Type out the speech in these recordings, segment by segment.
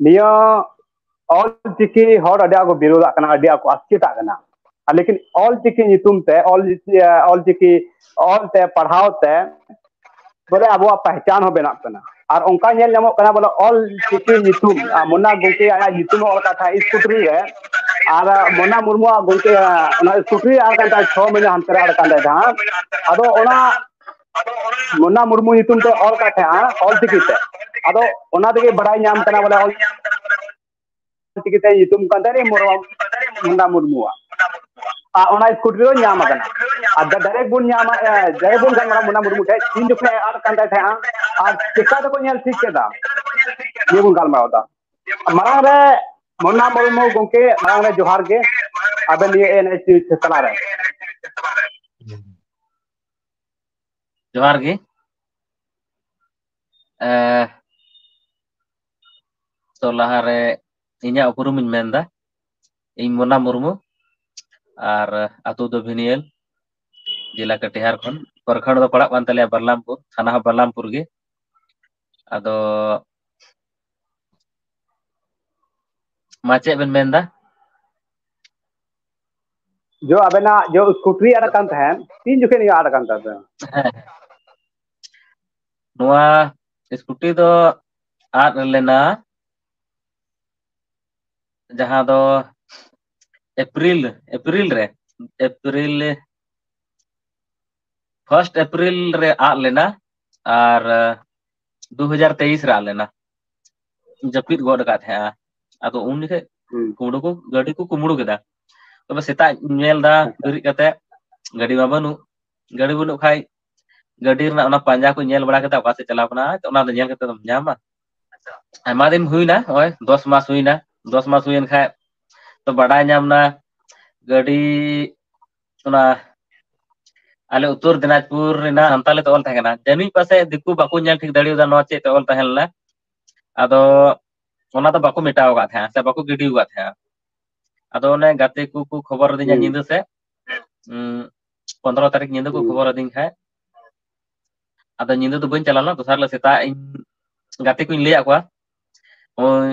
ᱱᱤᱭᱟᱹ ᱚᱞ ᱪᱤᱠᱤ ᱦᱚᱲ ᱟᱹᱰᱤ ᱟᱸᱴ ᱠᱚ ᱵᱤᱨᱳᱫᱟᱜ ᱠᱟᱱᱟ ᱟᱹᱰᱤ ᱟᱸᱴ ᱠᱚ ᱟᱥᱠᱮᱛᱟᱜ ᱠᱟᱱᱟ ᱟᱨ ᱞᱮᱠᱤᱱ ᱚᱞ ᱪᱤᱠᱤ ᱧᱩᱛᱩᱢ ᱛᱮ ᱚᱞ ᱚᱞ ᱪᱤᱠᱤ ᱚᱞ ᱛᱮ ᱯᱟᱲᱦᱟᱣ ᱛᱮ ᱵᱚᱞᱮ ᱟᱵᱚᱣᱟᱜ ᱯᱟᱦᱪᱟᱱ ᱦᱚᱸ ᱵᱮᱱᱟᱜ ᱠᱟᱱᱟ ᱟᱨ ᱚᱱᱠᱟ ᱧᱮᱞ ᱧᱟᱢᱚᱜ ᱠᱟᱱᱟ ᱵᱚᱞᱮ ᱚᱞ ᱪᱤᱠᱤ ᱧᱩᱛᱩᱢ ᱢᱚᱱᱟ ᱜᱚᱢᱠᱮ ᱟᱭᱟᱜ ᱧᱩᱛᱩᱢ ᱚᱞ ᱠᱟᱛᱷᱟ ᱤᱥᱠᱩᱴᱨᱤ ᱨᱮ ᱟᱨ ᱢᱚᱱᱟ ᱢᱩᱨᱢᱩᱣᱟᱜ ᱜᱚᱢᱠᱮ ᱚᱱᱟ ᱤᱥᱠᱩᱴᱨᱤ ᱟᱨ ᱠᱟᱱ ᱛᱟᱭ ᱪᱷᱚ ᱢᱟᱹᱦᱱᱟᱹ ᱦᱟᱱᱛᱮ ᱨᱮ ᱟᱨ ᱠᱟᱱ ᱛᱟᱭ ᱡᱟᱦᱟᱸ ᱟᱫᱚ ᱚᱱᱟ ᱢᱳᱱᱟ ᱢᱩᱨᱢᱩ ᱧᱩᱛᱩᱢ ᱛᱮ ᱚᱞ ᱠᱟᱜ ᱛᱟᱦᱮᱸᱜᱼᱟ ᱚᱞ ᱪᱤᱠᱤ ᱛᱮ ᱟᱫᱚ ᱚᱱᱟ ᱛᱮᱜᱮ ᱵᱟᱲᱟᱭ ᱧᱟᱢ ᱠᱟᱱᱟ ᱵᱚᱞᱮ ᱚᱞ ᱚᱞ ᱪᱤᱠᱤ ᱛᱮ ᱧᱩᱛᱩᱢ ᱠᱟᱱ ᱛᱟᱭ ᱢᱩᱱᱰᱟ ᱢᱩᱨᱢᱩᱣᱟᱜ ᱟᱨ ᱚᱱᱟ ᱤᱥᱠᱩᱴᱤ ᱫᱚ ᱧᱟᱢ ᱟᱠᱟᱱᱟ ᱟᱨ ᱰᱟᱭᱨᱮᱠᱴ ᱵᱚᱱ ᱧᱟᱢᱟ ᱰᱟᱭᱨᱮᱠᱴ ᱵᱚᱱ ᱜᱟᱞᱢᱟᱨᱟ ᱢᱩᱱᱟ ᱢᱩᱨᱢᱩ ᱴᱷᱮᱱ ᱤᱧ ᱡᱚᱠᱷᱚᱱ ᱮ ᱟᱫ ᱠᱟᱱ ᱛᱟᱭ ᱛᱟᱦᱮᱸᱜᱼᱟ ᱟᱨ ᱪᱮᱠᱟ ᱛᱮᱠᱚ ᱧᱮᱞ ᱴᱷᱤᱠ ᱠᱮᱫᱟ ᱱᱤᱭᱟᱹ ᱵᱚᱱ ᱜᱟᱞᱢᱟᱨᱟᱣ ᱫᱟ ᱢᱟᱲᱟᱝ ᱨᱮ ᱢᱩᱱᱟ ᱢᱩᱨᱢᱩ ᱜᱚᱢᱠᱮ ᱢᱟᱲᱟᱝ ᱨᱮ ᱡᱚᱦᱟᱨ ᱜᱮ ᱟᱵᱮᱱ ᱱᱤᱭᱟᱹ ᱮᱱ ᱮᱪ ᱛᱟᱞᱟᱨᱮ ᱡᱚᱦᱟᱨ ᱜᱮ ᱮᱸ ᱛᱚ ᱞᱟᱦᱟᱨᱮ ᱤᱧᱟᱹᱜ ᱩᱯᱩᱨᱩᱢ ᱤᱧ ᱢᱮᱱ ᱮᱫᱟ ᱤᱧ ᱢᱚᱱᱟ ᱢᱩᱨᱢᱩ ᱟᱨ ᱟᱛᱳ ᱫᱚ ᱵᱷᱤᱱᱤᱭᱟᱹᱞ ᱡᱮᱞᱟ ᱠᱟᱴᱤᱦᱟᱨ ᱠᱷᱚᱱ ᱯᱨᱚᱠᱷᱚᱸᱰ ᱫᱚ ᱯᱟᱲᱟᱜ ᱠᱟᱱ ᱛᱟᱞᱮᱭᱟ ᱵᱟᱨᱞᱟᱢᱯᱩᱨ ᱛᱷᱟᱱᱟ ᱦᱚᱸ ᱵᱟᱨᱞᱟᱢᱯᱩᱨ ᱜᱮ ᱟᱫᱚ ᱢᱟ ᱪᱮᱫ ᱵᱮᱱ ᱢᱮᱱ ᱮᱫᱟ? ᱡᱚ ᱟᱵᱮᱱᱟᱜ ᱡᱚ ᱤᱥᱠᱩᱴᱨᱤ ᱟᱫᱚ ᱟᱫᱟᱜ ᱠᱟᱱ ᱛᱟᱦᱮᱸᱱ ᱛᱤᱱ ᱡᱚᱠᱷᱮᱡ ᱱᱤᱭᱟᱹ ᱟᱫ ᱠᱟᱱ ᱛᱟᱵᱮᱱᱟ? ᱦᱮᱸ ᱦᱮᱸ ᱱᱚᱣᱟ ᱤᱥᱠᱩᱴᱤ ᱫᱚ ᱟᱫ ᱞᱮᱱᱟ ᱡᱟᱦᱟᱸ ᱫᱚ ᱮᱯᱨᱤᱞ ᱮᱯᱨᱤᱞ ᱨᱮ ᱮᱯᱨᱤᱞ ᱯᱷᱟᱥᱴ ᱮᱯᱨᱤᱞ ᱨᱮ ᱟᱫ ᱞᱮᱱᱟ ᱟᱨ ᱫᱩ ᱦᱟᱡᱟᱨ ᱛᱮᱭᱤᱥ ᱨᱮ ᱟᱫ ᱞᱮᱱᱟ ᱡᱟᱹᱯᱤᱫ ᱜᱚᱫ ᱟᱠᱟᱫ ᱛᱟᱦᱮᱸᱜᱼᱟ ᱟᱫᱚ ᱩᱱ ᱡᱚᱠᱷᱮᱡ ᱦᱩᱸ ᱠᱩᱢᱲᱩ ᱠᱚ ᱜᱟᱹᱰᱤ ᱠᱚ ᱠᱩᱢᱵᱽᱲᱩ ᱠᱮᱫᱟ ᱛᱚᱵᱮ ᱥᱮᱛᱟᱜ ᱧᱮᱞ ᱮᱫᱟ ᱟᱪᱪᱷᱟ ᱵᱮᱨᱮᱫ ᱠᱟᱛᱮᱫ ᱜᱟᱹᱰᱤ ᱢᱟ ᱵᱟᱹᱱᱩᱜ ᱜᱟᱹᱰᱤ ᱵᱟᱹᱱᱩᱜ ᱠᱷᱟᱡ ᱜᱟᱹᱰᱤ ᱨᱮᱱᱟᱜ ᱚᱱᱟ ᱯᱟᱸᱡᱟ ᱠᱚ ᱧᱮᱞ ᱵᱟᱲᱟ ᱠᱟᱛᱮᱫ ᱚᱠᱟ ᱥᱮᱫ ᱪᱟᱞᱟᱣ ᱠᱟᱱᱟ ᱚᱱᱟ ᱫᱚ ᱧᱮᱞ ᱠᱟᱛᱮᱫ ᱫᱚᱢ ᱧᱟᱢᱟ ᱟᱭᱢᱟ ᱫᱤᱱ ᱦᱩᱭᱱᱟ ᱱᱚᱜᱼᱚᱭ ᱫᱚᱥ ᱢᱟᱥ ᱦᱩᱭᱱᱟ ᱫᱚᱥ ᱢᱟᱥ ᱦᱩᱭᱮᱱ ᱠᱷᱟᱡ ᱛᱚ ᱵᱟᱰᱟᱭ ᱧᱟᱢ ᱮᱱᱟ ᱜᱟᱹᱰᱤ ᱚᱱᱟ ᱟᱞᱮ ᱩᱛᱚᱨ ᱫᱤᱱᱟᱡᱽᱯᱩᱨ ᱨᱮᱱᱟᱜ ᱥᱟᱱᱛᱟᱞᱤ ᱛᱮ ᱚᱞ ᱛᱟᱦᱮᱸ ᱠᱟᱱᱟ ᱡᱟᱹᱱᱤᱡ ᱯᱟᱥᱮᱡ ᱫᱤᱠᱩ ᱵᱟᱠᱚ ᱧᱮᱞ ᱴᱷᱤᱠ ᱫᱟᱲᱮᱭᱟᱫᱟ ᱱᱚᱣᱟ ᱪᱮᱫ ᱛᱮ ᱚᱞ ᱛᱟᱦᱮᱸ ᱞᱮᱱᱟ ᱟᱫᱚ ᱚᱱᱟ ᱫᱚ ᱵᱟᱠᱚ ᱢᱮᱴᱟᱣ ᱟᱠᱟᱫ ᱛᱟᱦᱮᱸᱜ-ᱟ ᱥᱮ ᱵᱟᱠᱚ ᱜᱤᱰᱤ ᱟᱠᱟᱫ ᱛᱟᱦᱮᱸᱜ-ᱟ ᱟᱫᱚ ᱚᱱᱮ ᱜᱟᱛᱮ ᱠᱚ ᱠᱚ ᱠᱷᱚᱵᱚᱨ ᱟᱹᱫᱤᱧᱟ ᱦᱩᱸ ᱧᱤᱫᱟᱹ ᱥᱮᱫ ᱯᱚᱸᱫᱽᱨᱚ ᱛᱟᱹᱨᱤᱠᱷ ᱧᱤᱫᱟᱹ ᱠᱚ ᱦᱩᱸ ᱠᱷᱚᱵᱚᱨ ᱟᱹᱫᱤᱧ ᱛᱟᱦᱮᱸᱫ ᱟᱫᱚ ᱧᱤᱫᱟᱹ ᱫᱚ ᱵᱟᱹᱧ ᱪᱟᱞᱟᱣ ᱞᱮᱱᱟ ᱫᱚᱥᱟᱨ ᱦᱤᱞᱳᱜ ᱥᱮᱛᱟᱜ ᱤᱧ ᱜᱟᱛᱮ ᱠᱩᱧ ᱞᱟᱹᱭᱟᱫ ᱠᱚᱣᱟ ᱳᱭ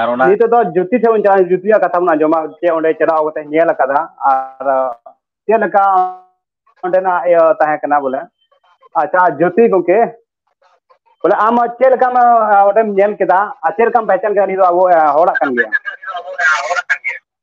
ᱟᱨ ᱚᱱᱟ ᱱᱤᱛᱚᱜ ᱫᱚ ᱡᱩᱛᱤ ᱴᱷᱮᱱ ᱵᱚᱱ ᱪᱟᱞᱟᱜ ᱡᱩᱛᱤᱭᱟᱜ ᱠᱟᱛᱷᱟ ᱵᱚᱱ ᱟᱸᱡᱚᱢᱟ ᱡᱮ ᱚᱸᱰᱮ ᱪᱟᱞᱟᱣ ᱠᱟᱛᱮ ᱧᱮᱞ ᱟᱠᱟᱫᱟ ᱟᱨ ᱪᱮᱫ ᱞᱮᱠᱟ ᱚᱸᱰᱮᱱᱟᱜ ᱤᱭᱟᱹ ᱛᱟᱦᱮᱸ ᱠᱟᱱᱟ ᱵᱚᱞᱮ ᱟᱪᱪᱷᱟ ᱡᱳᱛᱤ ᱜᱚᱝᱠᱮ ᱵᱚᱞᱮ ᱟᱢ ᱪᱮᱫ ᱞᱮᱠᱟᱢ ᱚᱸᱰᱮᱢ ᱧᱮᱞ ᱠᱮᱫᱟ ᱟᱨ ᱪᱮᱫ ᱞᱮᱠᱟᱢ ᱯᱮᱦᱪᱟᱱ ᱠᱮᱫᱟ ᱱᱤᱭᱟᱹ ᱫᱚ ᱟᱵᱚ ᱦᱚᱲᱟᱜ ᱠᱟᱱ ᱜᱮᱭᱟ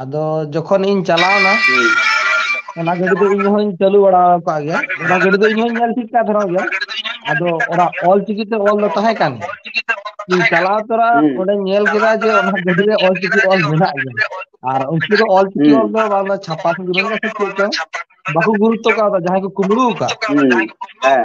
ᱟᱫᱚ ᱡᱚᱠᱷᱚᱱ ᱤᱧ ᱪᱟᱞᱟᱣᱱᱟ ᱦᱩᱸ ᱚᱱᱟ ᱜᱟᱹᱰᱤ ᱫᱚ ᱤᱧ ᱦᱚᱧ ᱪᱟᱹᱞᱩ ᱵᱟᱲᱟ ᱟᱠᱟᱫ ᱜᱮᱭᱟ ᱚᱱᱟ ᱜᱟᱹᱰᱤ ᱫᱚ ᱤᱧ ᱦᱚᱧ ᱧᱮᱞ ᱴᱷᱤᱠ ᱠᱟᱛ ᱛᱟᱦᱮᱱᱚᱜ ᱜᱮᱭᱟ ᱟᱫᱚ ᱚᱱᱟ ᱚᱞ ᱪᱤᱠᱤ ᱛᱮ ᱚᱞ ᱫᱚ ᱛᱟᱦᱮᱸ ᱠᱟᱱ ᱜᱮᱭᱟ ᱤᱧ ᱪᱟᱞᱟᱣ ᱛᱚᱨᱟ ᱦᱩᱸ ᱚᱸᱰᱮᱧ ᱧᱮᱞ ᱠᱮᱫᱟ ᱡᱮ ᱚᱱᱟ ᱜᱟᱹᱰᱤ ᱨᱮ ᱚᱞ ᱪᱤᱠᱤ ᱚᱞ ᱢᱮᱱᱟᱜ ᱜᱮᱭᱟ ᱟᱨ ᱩᱱᱠᱩ ᱫᱚ ᱚᱞ ᱪᱤᱠᱤ ᱦᱩᱸ ᱚᱞ ᱫᱚ ᱵᱟᱝ ᱫᱚ ᱪᱷᱟᱯᱟ ᱥᱮ ᱪᱮᱫ ᱪᱚᱝ ᱵᱟᱠᱚ ᱜᱩᱨᱩᱛᱛᱚ ᱠᱟᱣᱫᱟ ᱡᱟᱦᱟᱸᱭ ᱠᱚ ᱠᱩᱢᱵᱽᱲᱩ ᱟᱠᱟᱫ ᱦᱩᱸ ᱦᱮᱸ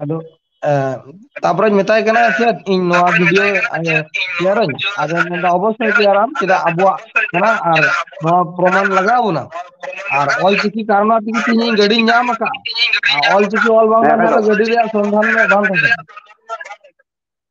ᱟᱫᱚ ᱮᱸ ᱛᱟᱯᱚᱨᱮᱧ ᱢᱮᱛᱟᱭ ᱠᱟᱱᱟ ᱪᱮᱫ ᱤᱧ ᱱᱚᱣᱟ ᱵᱷᱤᱰᱭᱳ ᱛᱮᱭᱟᱨᱟᱹᱧ ᱟᱫᱚ ᱢᱮᱱᱫᱟ ᱚᱵᱚᱥᱥᱳᱭ ᱛᱮᱭᱟᱨᱟᱢ ᱪᱮᱫᱟᱜ ᱟᱵᱚᱣᱟᱜ ᱠᱟᱱᱟ ᱟᱨ ᱱᱚᱣᱟ ᱯᱨᱚᱢᱟᱱ ᱞᱟᱜᱟᱣ ᱵᱚᱱᱟ ᱟᱨ ᱚᱞ ᱪᱤᱠᱤ ᱠᱟᱨᱚᱱᱟ ᱛᱮᱜᱮ ᱛᱮᱦᱤᱧ ᱤᱧ ᱜᱟᱹᱰᱤᱧ ᱧᱟᱢ ᱟᱠᱟᱫᱼᱟ ᱟᱨ ᱚᱞ ᱪᱤᱠᱤ ᱚᱞ ᱵᱟᱝ ᱦᱮᱸ ᱠᱟᱱ ᱠᱷᱟᱡ ᱫᱚ ᱜᱟᱹᱰᱤ ᱨᱮᱭᱟᱜ ᱥᱚᱱᱫᱷᱟᱱ ᱢᱮ ᱵᱟᱝ ᱛᱟᱦᱮᱸ ᱠᱟᱱᱟ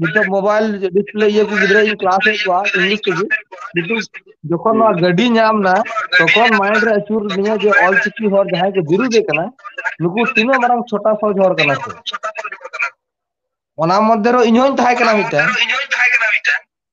ᱱᱤᱛᱚᱜ ᱢᱳᱵᱟᱭᱤᱞ ᱰᱤᱥᱯᱞᱮ ᱤᱭᱟᱹ ᱠᱚ ᱜᱤᱫᱽᱨᱟᱹ ᱤᱧ ᱠᱮᱞᱟᱥ ᱮᱫ ᱠᱚᱣᱟ ᱤᱝᱞᱤᱥ ᱛᱮᱜᱮ ᱠᱤᱱᱛᱩ ᱡᱚᱠᱷᱚᱱ ᱱᱚᱣᱟ ᱜᱟᱹᱰᱤ ᱧᱟᱢ ᱱᱟ ᱛᱚᱠᱷᱚᱱ ᱢᱟᱭᱤᱱᱰ ᱨᱮ ᱟᱹᱪᱩᱨ ᱟᱹᱫᱤᱧᱟ ᱡᱮ ᱚᱞ ᱪᱤᱠᱤ ᱦᱚᱲ ᱡᱟᱦᱟᱸᱭ ᱠᱚ ᱵᱤᱨᱩᱫᱮ ᱠᱟᱱᱟ ᱱᱩᱠᱩ ᱛᱤᱱᱟᱹᱜ ᱢᱟᱨᱟᱝ ᱪᱷᱳᱴᱟ ᱥᱚᱦᱚᱡ ᱦᱚᱲ ᱠᱟᱱᱟ ᱠᱚ ᱚᱱᱟ ᱢᱚᱫᱽᱫᱷᱮ ᱨᱮ ᱤᱧ ᱦᱚᱧ ᱛᱟᱦᱮᱸ ᱠᱟᱱᱟ ᱢᱤᱫᱴᱮᱱ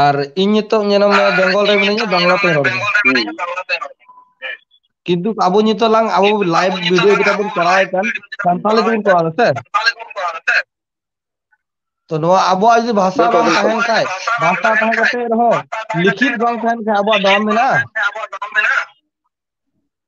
ᱟᱨ ᱤᱧ ᱱᱤᱛᱚᱜ ᱧᱮᱞᱚᱜ ᱢᱮ ᱵᱮᱝᱜᱚᱞ ᱨᱮ ᱢᱤᱱᱟᱹᱧᱟ ᱵᱟᱝᱞᱟ ᱛᱤᱧ ᱨᱚᱲ ᱮᱫᱟ᱾ ᱠᱤᱱᱛᱩ ᱟᱵᱚ ᱱᱤᱛᱚᱜ ᱞᱟᱝ ᱟᱵᱚ ᱞᱟᱭᱤᱵ ᱵᱷᱤᱰᱭᱳ ᱡᱮᱴᱟ ᱵᱚᱱ ᱠᱚᱨᱟᱣᱮᱫ ᱠᱟᱱ ᱥᱟᱱᱛᱟᱞᱤ ᱛᱮᱵᱚᱱ ᱠᱚᱨᱟᱣ ᱫᱟ ᱥᱮ? ᱛᱚ ᱱᱚᱣᱟ ᱟᱵᱚᱣᱟᱜ ᱡᱩᱫᱤ ᱵᱷᱟᱥᱟ ᱵᱟᱝ ᱛᱟᱦᱮᱱ ᱠᱷᱟᱡ ᱵᱷᱟᱥᱟ ᱛᱟᱦᱮᱸ ᱠᱟᱛᱮ ᱨᱮᱦᱚᱸ ᱞᱤᱠᱷᱤᱛ ᱵᱟᱝ ᱛᱟᱦᱮᱱ ᱠᱷᱟᱡ ᱟᱵᱚᱣᱟᱜ ᱫᱟᱢ ᱢᱮᱱᱟᱜᱼᱟ?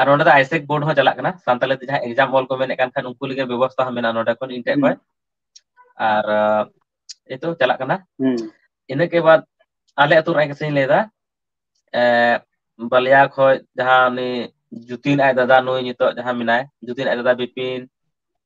ᱟᱨ ᱱᱚᱸᱰᱮ ᱫᱚ ᱟᱭᱥᱮᱠ ᱵᱳᱨᱰ ᱦᱚᱸ ᱪᱟᱞᱟᱜ ᱠᱟᱱᱟ ᱥᱟᱱᱛᱟᱞᱤ ᱛᱮ ᱡᱟᱦᱟᱸ ᱮᱠᱡᱟᱢ ᱚᱞ ᱠᱚ ᱢᱮᱱᱮᱫ ᱠᱟᱱ ᱠᱷᱟᱱ ᱩᱱᱠᱩ ᱞᱟᱹᱜᱤᱫ ᱵᱮᱵᱚᱥᱛᱟ ᱦᱚᱸ ᱢᱮᱱᱟᱜᱼᱟ ᱱᱚᱸᱰᱮ ᱤᱧ ᱴᱷᱮᱡ ᱠᱷᱚᱡ ᱟᱨ ᱮᱛᱚ ᱪᱟᱞᱟᱜ ᱠᱟᱱᱟ ᱦᱩᱸ ᱤᱱᱟᱹ ᱠᱮ ᱵᱟᱫ ᱟᱞᱮ ᱟᱹᱛᱩ ᱨᱮᱱᱟᱜ ᱠᱟᱛᱷᱟᱧ ᱞᱟᱹᱭ ᱮᱫᱟ ᱮᱸ ᱵᱟᱞᱤᱭᱟ ᱠᱷᱚᱡ ᱡᱟᱦᱟᱸ ᱩᱱᱤ ᱡᱩᱛᱤᱱ ᱟᱡ ᱫᱟᱫᱟ ᱱᱩᱭ ᱱᱤᱛᱚᱜ ᱡᱟᱦᱟᱸ ᱢᱮᱱᱟᱭ ᱡᱩᱛᱤᱱ ᱟᱡ ᱫᱟᱫᱟ ᱵᱤᱯᱤᱱ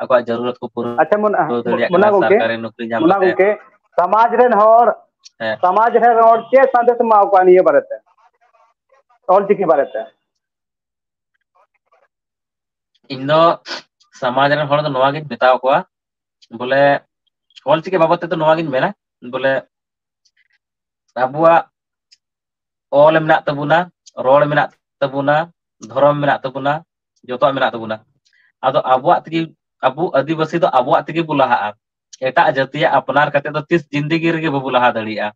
ᱟᱠᱚᱣᱟᱜ ᱡᱟᱹᱨᱩᱨᱟᱛ ᱠᱚ ᱯᱩᱨᱟᱹ ᱟᱪᱪᱷᱟ ᱢᱚᱱᱟ ᱯᱩᱨᱟᱹᱣ ᱫᱟᱲᱮᱭᱟᱜ ᱠᱟᱱᱟ ᱢᱚᱱᱟ ᱜᱚᱝᱠᱮ ᱥᱟᱨᱠᱟᱨᱤ ᱱᱚᱠᱨᱤ ᱧᱟᱢ ᱢᱚᱱᱟ ᱠᱟᱛᱮᱫ ᱜᱚᱝᱠᱮ ᱥᱟᱢᱟᱡᱽ ᱨᱮᱱ ᱦᱚᱲ ᱦᱮᱸ ᱥᱚᱢᱟᱡᱽ ᱨᱮᱱ ᱦᱚᱲ ᱪᱮᱫ ᱥᱟᱸᱫᱮᱥ ᱮᱢᱟ ᱠᱚᱣᱟ ᱱᱤᱭᱟᱹ ᱵᱟᱨᱮ ᱛᱮ ᱚᱞ ᱪᱤᱠᱤ ᱵᱟᱨᱮ ᱛᱮ ᱤᱧ ᱫᱚ ᱥᱟᱢᱟᱡᱽ ᱨᱮᱱ ᱦᱚᱲ ᱫᱚ ᱱᱚᱣᱟᱜᱤᱧ ᱢᱮᱛᱟ ᱠᱚᱣᱟ ᱵᱚᱞᱮ ᱚᱞ ᱪᱤᱠᱤ ᱵᱟᱵᱚᱫ ᱛᱮᱫᱚ ᱱᱚᱣᱟᱜᱤᱧ ᱢᱮᱱᱟ ᱵᱚᱞᱮ ᱟᱵᱚᱣᱟᱜ ᱚᱞ ᱢᱮᱱᱟᱜ ᱛᱟᱵᱚᱱᱟ ᱨᱚᱲ ᱢᱮᱱᱟᱜ ᱛᱟᱵᱚᱱᱟ ᱫᱷᱚᱨᱚᱢ ᱢᱮᱱᱟᱜ ᱛᱟᱵᱚᱱᱟ ᱡᱚᱛᱚᱣᱟᱜ ᱢᱮᱱᱟᱜ ᱛᱟᱵᱚᱱᱟ ᱟᱫᱚ ᱟᱵᱚᱣᱟᱜ ᱛᱮᱜᱮ ᱟᱵᱚ ᱟᱹᱫᱤᱵᱟᱹᱥᱤ ᱫᱚ ᱟᱵᱚᱣᱟᱜ ᱛᱮᱜᱮ ᱵᱚ ᱞᱟᱦᱟᱜᱼᱟ ᱮᱴᱟᱜ ᱡᱟᱹᱛᱤᱭᱟᱜ ᱟᱯᱱᱟᱨ ᱠᱟᱛᱮᱫ ᱫᱚ ᱛᱤᱥ ᱡᱤᱱᱫᱮᱜᱤ ᱨᱮᱜᱮ ᱵᱟᱵᱚ ᱞᱟᱦᱟ ᱫᱟᱲᱮᱭᱟᱜᱼᱟ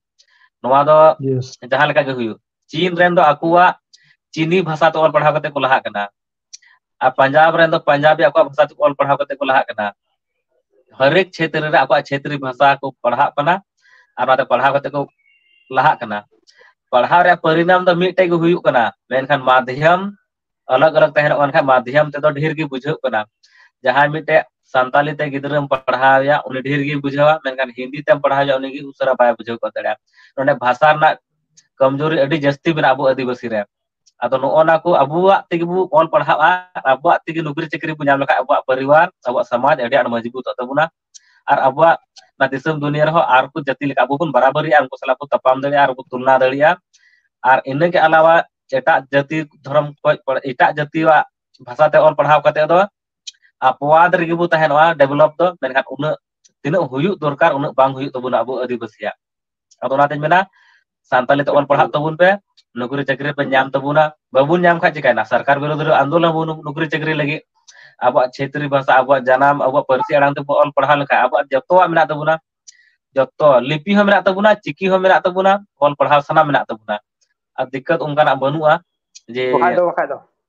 ᱱᱚᱣᱟ ᱫᱚ ᱡᱟᱦᱟᱸ ᱞᱮᱠᱟ ᱜᱮ ᱦᱩᱭᱩᱜ ᱪᱤᱱ ᱨᱮᱱ ᱫᱚ ᱟᱠᱚᱣᱟᱜ ᱪᱤᱱᱤ ᱵᱷᱟᱥᱟ ᱛᱮ ᱚᱞ ᱯᱟᱲᱦᱟᱣ ᱠᱟᱛᱮᱫ ᱠᱚ ᱞᱟᱦᱟᱜ ᱠᱟᱱᱟ ᱟᱨ ᱯᱟᱧᱡᱟᱵᱽ ᱨᱮᱱ ᱫᱚ ᱯᱟᱧᱡᱟᱵᱤ ᱟᱠᱚᱣᱟᱜ ᱵᱷᱟᱥᱟ ᱛᱮᱠᱚ ᱚᱞ ᱯᱟᱲᱦᱟᱣ ᱠᱟᱛᱮ ᱠᱚ ᱞᱟᱦᱟᱜ ᱠᱟᱱᱟ ᱦᱟᱨᱮᱠ ᱪᱷᱮᱛᱨᱚ ᱨᱮ ᱟᱠᱚᱣᱟᱜ ᱪᱷᱮᱛᱨᱤ ᱵᱷᱟᱥᱟ ᱠᱚ ᱯᱟᱲᱦᱟᱜ ᱠᱟᱱᱟ ᱟᱨ ᱚᱱᱟᱛᱮ ᱯᱟᱲᱦᱟᱣ ᱠᱟᱛᱮ ᱠᱚ ᱞᱟᱦᱟᱜ ᱠᱟᱱᱟ ᱯᱟᱲᱦᱟᱣ ᱨᱮᱭᱟᱜ ᱯᱚᱨᱤᱱᱟᱢ ᱫᱚ ᱢᱤᱫᱴᱮᱡ ᱜᱮ ᱦᱩᱭᱩᱜ ᱠᱟᱱᱟ ᱢᱮᱱᱠᱷᱟᱱ ᱢᱟᱫᱷᱭᱟᱢ ᱟᱞᱟᱜᱽ ᱟᱞᱟᱜᱽ ᱛᱟᱦᱮᱱᱚᱜ ᱠᱟᱱ ᱠᱷᱟᱱ ᱢᱟᱫᱷᱭᱟᱢ ᱛᱮᱫᱚ ᱰᱷᱮᱨ ᱜᱮ ᱵᱩᱡᱷᱟᱹᱜ ᱠᱟᱱᱟ ᱡᱟᱦᱟᱸᱭ ᱢᱤᱫᱴᱮᱡ ᱥᱟᱱᱛᱟᱞᱤ ᱛᱮ ᱜᱤᱫᱽᱨᱟᱹᱢ ᱯᱟᱲᱦᱟᱣ ᱮᱭᱟ ᱩᱱᱤ ᱰᱷᱮᱨ ᱜᱮᱭ ᱵᱩᱡᱷᱟᱹᱣᱟ ᱢᱮᱱᱠᱷᱟᱱ ᱦᱤᱱᱫᱤ ᱛᱮᱢ ᱯᱟᱲᱦᱟᱣ ᱮᱭᱟ ᱩᱱᱤ ᱩᱥᱟᱹᱨᱟ ᱵᱟᱭ ᱵᱩᱡᱷᱟᱹᱣ ᱜᱚᱫ ᱫᱟᱲᱮᱭᱟᱜᱼᱟ ᱱᱚᱰᱮ ᱵᱷᱟᱥᱟ ᱨᱮᱱᱟᱜ ᱠᱚᱢᱡᱩᱨᱤ ᱟᱹᱰᱤ ᱡᱟᱹᱥᱛᱤ ᱢᱮᱱᱟᱜᱼᱟ ᱟᱵᱚ ᱟᱹᱫᱤᱵᱟᱹᱥᱤ ᱨᱮ ᱟᱫᱚ ᱱᱚᱜᱼᱚ ᱱᱟ ᱠᱚ ᱟᱵᱚᱣᱟᱜ ᱛᱮᱜᱮ ᱵᱚ ᱚᱞ ᱯᱟᱲᱦᱟᱜᱼᱟ ᱟᱨ ᱟᱵᱚᱣᱟᱜ ᱛᱮᱜᱮ ᱱᱩᱠᱨᱤ ᱪᱟᱹᱠᱨᱤ ᱵᱚᱱ ᱧᱟᱢ ᱞᱮᱠᱷᱟᱡ ᱟᱵᱚᱣᱟᱜ ᱯᱚᱨᱤᱵᱟᱨ ᱟᱵᱚᱣᱟᱜ ᱥᱚᱢᱟᱡᱽ ᱟᱹᱰᱤ ᱟᱸᱴ ᱢᱚᱡᱽᱵᱩᱛᱚᱜ ᱛᱟᱵᱚᱱᱟ ᱟᱨ ᱟᱵᱚᱣᱟᱜ ᱚᱱᱟ ᱫᱤᱥᱚᱢ ᱫᱩᱱᱤᱭᱟᱹ ᱨᱮᱦᱚᱸ ᱟᱨ ᱠᱚ ᱡᱟᱹᱛᱤ ᱞᱮᱠᱟ ᱟᱵᱚ ᱵᱚᱱ ᱵᱟᱨᱟᱵᱟᱹᱨᱤᱜᱼᱟ ᱩᱱᱠᱩ ᱥᱟᱞᱟᱜ ᱵᱚᱱ ᱛᱟᱯᱟᱢ ᱫᱟᱲᱮᱭᱟᱜᱼᱟ ᱟᱨᱵᱚᱱ ᱛᱩᱞᱚᱱᱟ ᱫᱟᱲᱮᱭᱟᱜᱼᱟ ᱟᱨ ᱤᱱᱟᱹᱜᱮ ᱟᱞᱟᱣᱟ ᱮᱴᱟᱜ ᱡᱟᱹᱛᱤ ᱫᱷᱚᱨᱚᱢ ᱠᱷᱚᱡ ᱮᱴᱟᱜ ᱡᱟᱹᱛᱤᱭᱟᱜ ᱵᱷᱟᱥᱟᱛᱮ ᱚᱞ ᱯᱟᱲᱦᱟᱣ ᱠᱟᱛᱮᱫ ᱫᱚ ᱟᱯᱣᱟᱫ ᱨᱮᱜᱮ ᱵᱚ ᱛᱟᱦᱮᱱᱚᱜᱼᱟ ᱰᱮᱵᱷᱞᱚᱯ ᱫᱚ ᱢᱮᱱᱠᱷᱟᱱ ᱩᱱᱟᱹᱜ ᱛᱤᱱᱟᱹᱜ ᱦᱩᱭᱩᱜ ᱫᱚᱨᱠᱟᱨ ᱩᱱᱟᱹᱜ ᱵᱟᱝ ᱦᱩᱭᱩᱜ ᱛᱟᱵᱚᱱᱟ ᱟᱵᱚ ᱟᱹᱫᱤᱵᱟᱹᱥᱤᱭᱟᱜ ᱟᱫᱚ ᱚᱱᱟᱛᱤᱧ ᱢᱮᱱᱟ ᱥᱟᱱᱛᱟᱞᱤ ᱛᱮ ᱚᱞ ᱯᱟᱲᱦᱟᱜ ᱛᱟᱵᱚᱱ ᱯᱮ ᱱᱚᱠᱨᱤ ᱪᱟᱹᱠᱨᱤ ᱯᱮ ᱧᱟᱢ ᱛᱟᱵᱚᱱᱟ ᱵᱟᱵᱚᱱ ᱧᱟᱢ ᱠᱷᱟᱱ ᱪᱤᱠᱟᱭᱱᱟ ᱥᱚᱨᱠᱟᱨ ᱵᱤᱨᱩᱫ ᱨᱮ ᱟᱱᱫᱳᱞᱚᱱ ᱵᱚᱱ ᱱᱚᱠᱨᱤ ᱪᱟᱹᱠᱨᱤ ᱞᱟᱹᱜᱤᱫ ᱟᱵᱚᱣᱟᱜ ᱪᱷᱛᱨᱤ ᱵᱷᱟᱥᱟ ᱟᱵᱚᱣᱟᱜ ᱡᱟᱱᱟᱢ ᱟᱵᱚᱣᱟᱜ ᱯᱟᱹᱨᱥᱤ ᱟᱲᱟᱝ ᱛᱮᱵ ᱚᱞ ᱯᱟᱲᱦᱟᱣ ᱞᱮᱠᱷᱟᱡ ᱟᱵᱚᱣᱟᱜ ᱡᱚᱛᱚᱣᱟᱜ ᱢᱮᱱᱟᱜ ᱛᱟᱵᱚᱱᱟ ᱡᱚᱛᱚ ᱞᱤᱯᱤ ᱦᱚᱸ ᱢᱮᱱᱟᱜ ᱛᱟᱵᱚᱱᱟ ᱪᱤᱠᱤ ᱦᱚᱸ ᱢᱮᱱᱟᱜ ᱛᱟᱵᱚᱱᱟ ᱚᱞ ᱯᱟᱲᱦᱟᱣ ᱥᱟᱱᱟᱢ ᱢᱮᱱᱟᱜ ᱛᱟᱵᱚᱱᱟ ᱟᱨ ᱫᱤᱠᱠᱚᱛ ᱚᱱᱠᱟᱱᱟᱜ ᱵᱟᱹᱱᱩᱜᱼᱟ ᱡᱮ ᱵᱟᱠᱷᱟᱡ ᱫᱚ ᱵᱟᱠᱷᱟᱡ ᱫᱚ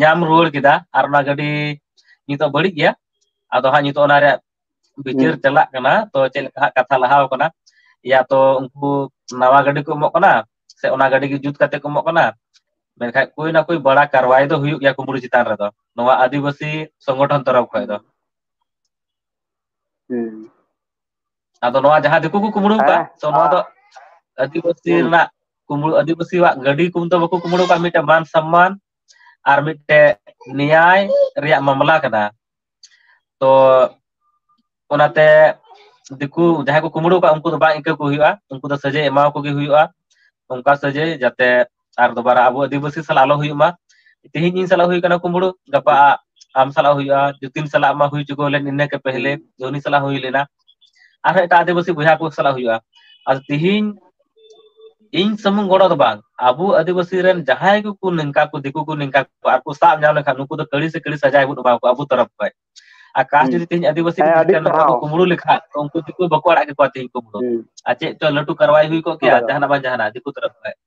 ᱧᱟᱢ ᱨᱩᱣᱟᱹᱲ ᱠᱮᱫᱟ ᱟᱨ ᱚᱱᱟ ᱜᱟᱹᱰᱤ ᱱᱤᱛᱚᱜ ᱵᱟᱹᱲᱤᱡ ᱜᱮᱭᱟ ᱟᱫᱚ ᱦᱟᱸᱜ ᱱᱤᱛᱚᱜ ᱚᱱᱟ ᱨᱮᱭᱟᱜ ᱦᱩᱸ ᱵᱤᱪᱟᱹᱨ ᱪᱟᱞᱟᱜ ᱠᱟᱱᱟ ᱛᱚ ᱪᱮᱫ ᱞᱮᱠᱟ ᱦᱟᱜ ᱠᱟᱛᱷᱟ ᱞᱟᱦᱟᱣ ᱟᱠᱟᱱᱟ ᱮᱭᱟ ᱛᱚ ᱩᱱᱠᱩ ᱱᱟᱣᱟ ᱜᱟᱹᱰᱤ ᱠᱚ ᱮᱢᱚᱜ ᱠᱟᱱᱟ ᱥᱮ ᱚᱱᱟ ᱜᱟᱹᱰᱤ ᱜᱮ ᱡᱩᱛ ᱠᱟᱛᱮ ᱠᱚ ᱮᱢᱚᱜ ᱠᱟᱱᱟ ᱢᱮᱱᱠᱷᱟᱡ ᱠᱚᱭ ᱱᱟ ᱠᱚᱭ ᱵᱟᱲᱟ ᱠᱟᱨᱣᱟᱭ ᱫᱚ ᱦᱩᱭᱩᱜ ᱜᱮᱭᱟ ᱠᱩᱢᱲᱩ ᱪᱮᱛᱟᱱ ᱨᱮᱫᱚ ᱱᱚᱣᱟ ᱟᱹᱫᱤᱵᱟᱹᱥᱤ ᱥᱚᱝᱜᱚᱴᱷᱚᱱ ᱛᱚᱨᱚᱯ ᱠᱷᱚᱡ ᱫᱚ ᱦᱩᱸ ᱟᱫᱚ ᱱᱚᱣᱟ ᱡᱟᱦᱟᱸ ᱫᱤᱠᱩ ᱠᱚ ᱠᱩᱢᱵᱽᱲᱩᱣ ᱠᱟᱜ ᱦᱮᱸ ᱛᱚ ᱱᱚᱣᱟ ᱫᱚ ᱟᱹᱫᱤᱵᱟᱹᱥᱤ ᱦᱩᱸ ᱨᱮᱱᱟᱜ ᱠᱩᱢᱵᱽᱲᱩ ᱟᱹᱫᱤᱵᱟᱹᱥᱤᱭᱟᱜ ᱜᱟᱹᱰᱤ ᱠᱚ ᱫᱚ ᱵᱟᱠᱚ ᱠᱩᱢᱵᱽᱲᱩᱣ ᱠᱟᱜ-ᱟ ᱢᱤᱫᱴᱮᱱ ᱢᱟᱱ ᱥᱚᱢᱢᱟᱱ ᱟᱨ ᱢᱤᱫᱴᱮᱡ ᱱᱮᱭᱟᱭ ᱨᱮᱭᱟᱜ ᱢᱟᱢᱞᱟ ᱠᱟᱱᱟ᱾ ᱛᱚ ᱚᱱᱟᱛᱮ ᱫᱤᱠᱩ ᱡᱟᱦᱟᱸᱭ ᱠᱚ ᱠᱩᱢᱵᱽᱲᱩᱣ ᱠᱟᱜ-ᱟ ᱩᱱᱠᱩ ᱫᱚ ᱵᱟᱝ ᱤᱠᱟᱹ ᱠᱚ ᱦᱩᱭᱩᱜ-ᱟ ᱩᱱᱠᱩ ᱫᱚ ᱥᱟᱹᱡᱟᱹᱭ ᱮᱢᱟᱣᱟᱠᱚ ᱜᱮ ᱦᱩᱭᱩᱜ-ᱟ᱾ ᱚᱱᱠᱟ ᱥᱟᱹᱡᱟᱹᱭ ᱡᱟᱛᱮ ᱟᱨ ᱫᱚᱵᱟᱨᱟ ᱟᱵᱚ ᱟᱹᱫᱤᱵᱟᱹᱥᱤ ᱥᱟᱞᱟᱜ ᱟᱞᱚ ᱦᱩᱭᱩᱜ ᱢᱟ ᱛᱮᱦᱤᱧ ᱤᱧ ᱥᱟᱞᱟᱜ ᱦᱩᱭ ᱠᱟᱱᱟ ᱠᱩᱢᱵᱽᱲᱩ ᱜᱟᱯᱟ ᱟᱢ ᱥᱟᱞᱟᱜ ᱦᱩᱭᱩᱜᱼᱟ ᱡᱩᱚᱛᱤᱱ ᱥᱟᱞᱟᱜ ᱢᱟ ᱦᱩᱭ ᱪᱩᱠᱟᱹᱣ ᱞᱮᱱ ᱤᱱᱟᱹ ᱠᱮ ᱯᱮᱦᱞᱮ ᱦᱩᱸ ᱩᱱᱤ ᱥᱟᱞᱟᱜ ᱦᱩᱭ ᱞᱮᱱᱟ ᱟᱨᱦᱚᱸ ᱮᱴᱟᱜ ᱟᱹᱫᱤᱵᱟᱹᱥᱤ ᱵᱚᱭᱦᱟ ᱠᱚ ᱥᱟᱞᱟᱜ ᱦᱩᱭᱩᱜᱼᱟ ᱟᱨ ᱛᱤᱦᱤᱧ ᱤᱧ ᱥᱩᱢᱩᱝ ᱜᱚᱲᱚ ᱫᱚ ᱵᱟᱝ ᱟᱵᱚ ᱟᱹᱫᱤᱵᱟᱹᱥᱤ ᱨᱮᱱ ᱡᱟᱦᱟᱸᱭ ᱜᱮᱠᱚ ᱱᱤᱝᱠᱟ ᱠᱚ ᱫᱤᱠᱩ ᱠᱚ ᱱᱤᱝᱠᱟ ᱠᱚ ᱟᱨ ᱠᱚ ᱥᱟᱵ ᱧᱟᱢ ᱞᱮᱠᱷᱟᱱ ᱱᱩᱠᱩ ᱫᱚ ᱠᱟᱹᱲᱤ ᱥᱮ ᱠᱟᱹᱲᱤ ᱥᱟᱡᱟᱭ ᱵᱚᱱ ᱮᱢᱟ ᱠᱚᱣᱟ ᱟᱵᱚ ᱛᱚᱨᱚᱯᱷ ᱠᱷᱚᱡ ᱟᱨ ᱠᱟᱥ ᱦᱩᱸ ᱡᱩᱫᱤ ᱛᱮᱦᱮᱧ ᱟᱹᱫᱤᱵᱟᱹᱥᱤ ᱦᱮᱸ ᱵᱷᱤᱛᱨᱤ ᱟᱹᱰᱤ ᱨᱮᱱ ᱦᱚᱲ ᱠᱚ ᱥᱟᱨᱦᱟᱣ ᱠᱩᱢᱵᱽᱲᱩ ᱞᱮᱠᱷᱟᱡ ᱛᱚ ᱩᱱᱠᱩ ᱫᱚ ᱵᱟᱠᱚ ᱟᱲᱟᱜ ᱠᱮᱠᱚᱣᱟ ᱛᱤᱦᱤᱧ ᱠᱩᱢᱵᱽᱲᱩ ᱦᱩᱸ ᱟᱨ ᱪᱮᱫ ᱪᱚ ᱞᱟᱹᱴᱩ ᱠᱟᱨᱣᱟᱭ ᱦᱩᱭ ᱠᱚᱜ ᱠᱮᱭᱟ ᱦᱳᱭ ᱦᱳᱭ ᱡᱟᱦᱟᱱᱟᱜ ᱵᱟᱝ ᱡᱟᱦᱟᱱᱟᱜ ᱫᱤᱠᱩ ᱛᱚᱨᱚᱯᱷ ᱠᱷᱚᱡ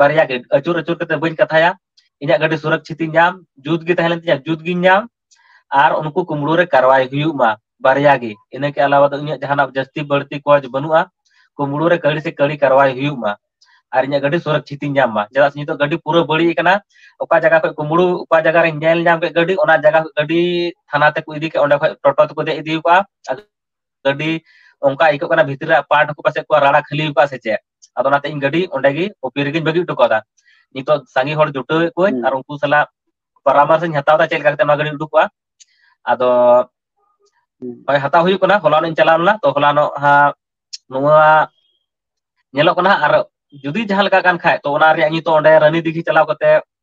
ᱵᱟᱨᱭᱟ ᱜᱮ ᱟᱹᱪᱩᱨ ᱟᱹᱪᱩᱨ ᱠᱟᱛᱮ ᱵᱟᱹᱧ ᱠᱟᱛᱷᱟᱭᱟ ᱤᱧᱟᱹᱜ ᱜᱟᱹᱰᱤ ᱥᱩᱨᱚᱠᱪᱷᱤᱛ ᱤᱧ ᱧᱟᱢ ᱡᱩᱛ ᱜᱮ ᱛᱟᱦᱮᱸ ᱞᱮᱱ ᱛᱤᱧᱟᱹ ᱡᱩᱛ ᱜᱤᱧ ᱧᱟᱢ ᱟᱨ ᱩᱱᱠᱩ ᱠᱩᱢᱵᱽᱲᱩ ᱨᱮ ᱠᱟᱨᱣᱟᱭ ᱦᱩᱭᱩᱜ ᱢᱟ ᱵᱟᱨᱭᱟ ᱜᱮ ᱤᱱᱟᱹ ᱠᱮ ᱟᱞᱟᱣᱟ ᱫᱚ ᱤᱧᱟᱹᱜ ᱡᱟᱦᱟᱱᱟᱜ ᱡᱟᱹᱥᱛᱤ ᱵᱟᱹᱲᱛᱤ ᱠᱚᱡᱽ ᱵᱟᱹᱱᱩᱜᱼᱟ ᱠᱩᱢᱵᱽᱲᱩ ᱨᱮ ᱠᱟᱹᱲᱤ ᱥᱮ ᱠᱟᱹᱲᱤ ᱠᱟᱨᱣᱟᱭ ᱦᱩᱭᱩᱜ ᱢᱟ ᱟᱨ ᱤᱧᱟᱹᱜ ᱜᱟᱹᱰᱤ ᱥᱩᱨᱚᱠᱪᱷᱤᱛ ᱤᱧ ᱧᱟᱢ ᱢᱟ ᱪᱮᱫᱟᱜ ᱥᱮ ᱱᱤᱛᱚᱜ ᱜᱟᱹᱰᱤ ᱯᱩᱨᱟᱹ ᱵᱟᱹᱲᱤᱡ ᱟᱠᱟᱱᱟ ᱚᱠᱟ ᱡᱟᱭᱜᱟ ᱠᱷᱚᱡ ᱠᱩᱢᱵᱽᱲᱩ ᱚᱠᱟ ᱡᱟᱭᱜᱟ ᱨᱤᱧ ᱧᱮᱞ ᱧᱟᱢ ᱠᱮᱫ ᱜᱟᱹᱰᱤ ᱚᱱᱟ ᱡᱟᱭᱜᱟ ᱠᱷᱚᱡ ᱜᱟᱹᱰᱤ ᱛᱷᱟᱱᱟ ᱛᱮᱠᱚ ᱤᱫᱤ ᱠᱮᱫ ᱚᱸᱰᱮ ᱠᱷᱚᱡ ᱴᱚᱴᱚ ᱛᱮᱠᱚ ᱫᱮᱡ ᱤᱫᱤ ᱠᱚᱣᱟ ᱜᱟᱹᱰᱤ ᱚᱱᱠᱟ ᱟᱹᱭᱠᱟᱹᱜ ᱠᱟᱱᱟ ᱵᱷᱤᱛᱨᱤ ᱨᱮ ᱯᱟᱴ ᱠᱚ ᱯᱟᱥᱮᱡ ᱠᱚ ᱨᱟᱲᱟ ᱠᱷᱟᱹᱞᱤ ᱟᱠᱟᱫᱼᱟ ᱥᱮ ᱪᱮᱫ ᱟᱫᱚ ᱚᱱᱟᱛᱮ ᱤᱧ ᱜᱟᱹᱰᱤ ᱚᱸᱰᱮ ᱜᱮ ᱳᱯᱤ ᱨᱮᱜᱤᱧ ᱵᱟᱹᱜᱤ ᱦᱚᱴᱚ ᱠᱟᱫᱟ ᱱᱤᱛᱚᱜ ᱥᱟᱸᱜᱮ ᱦᱚᱲ ᱡᱩᱴᱟᱹᱣᱮᱫ ᱠᱚᱣᱟᱧ ᱦᱩᱸ ᱟᱨ ᱩᱱᱠᱩ ᱥᱟᱞᱟᱜ ᱯᱟᱨᱟᱢᱟᱨᱥ ᱤᱧ ᱦᱟᱛᱟᱣ ᱮᱫᱟ ᱪᱮᱫ ᱞᱮᱠᱟ ᱠᱟᱛᱮ ᱱᱚᱣᱟ ᱜᱟᱹᱰᱤᱧ ᱩᱰᱩᱠᱚᱜᱼᱟ ᱟᱫᱚ ᱦᱩᱸ ᱦᱳᱭ ᱦᱟᱛᱟᱣ ᱦᱩᱭᱩᱜ ᱠᱟᱱᱟ ᱦᱚᱞᱟᱱᱚᱜ ᱤᱧ ᱪᱟᱞᱟᱣ ᱞᱮᱱᱟ ᱛᱚ ᱦᱚᱞᱟᱱᱚᱜ ᱦᱟᱸᱜ ᱱᱚᱣᱟ ᱧᱮᱞᱚᱜ ᱠᱟᱱᱟ ᱟᱨ ᱡᱩᱫᱤ ᱡᱟᱦᱟᱸ ᱞᱮᱠᱟ ᱠᱟᱱ ᱠᱷᱟᱡ ᱛᱚ ᱚᱱᱟ ᱨᱮᱭᱟᱜ ᱱᱤᱛᱚᱜ ᱚᱸᱰᱮ ᱨᱟᱱᱤ ᱫᱤᱜᱷᱤ ᱪᱟᱞᱟᱣ ᱠᱟᱛᱮᱜ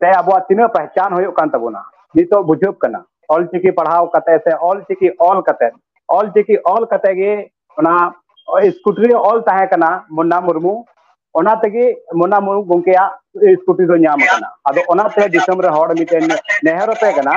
ᱛᱮ ᱟᱵᱚᱣᱟᱜ ᱛᱤᱱᱟᱹᱜ ᱯᱟᱦᱪᱟᱱ ᱦᱩᱭᱩᱜ ᱠᱟᱱ ᱛᱟᱵᱚᱱᱟ ᱱᱤᱛᱚᱜ ᱵᱩᱡᱷᱟᱹᱜ ᱠᱟᱱᱟ ᱚᱞ ᱪᱤᱠᱤ ᱯᱟᱲᱦᱟᱣ ᱠᱟᱛᱮ ᱥᱮ ᱚᱞ ᱪᱤᱠᱤ ᱚᱞ ᱠᱟᱛᱮ ᱚᱞ ᱪᱤᱠᱤ ᱚᱞ ᱠᱟᱛᱮ ᱜᱮ ᱚᱱᱟ ᱥᱠᱩᱴᱨᱤ ᱚᱞ ᱛᱟᱦᱮᱸ ᱠᱟᱱᱟ ᱢᱩᱱᱱᱟ ᱢᱩᱨᱢᱩ ᱚᱱᱟ ᱛᱮᱜᱮ ᱢᱩᱱᱱᱟ ᱢᱩᱨᱢᱩ ᱜᱚᱢᱠᱮᱭᱟᱜ ᱥᱠᱩᱴᱨᱤ ᱫᱚ ᱧᱟᱢ ᱠᱟᱱᱟ ᱟᱫᱚ ᱚᱱᱟᱛᱮ ᱫᱤᱥᱚᱢ ᱨᱮ ᱦᱚᱲ ᱢᱤᱫᱴᱮᱱ ᱱᱮᱦᱚᱨ ᱟᱯᱮ ᱠᱟᱱᱟ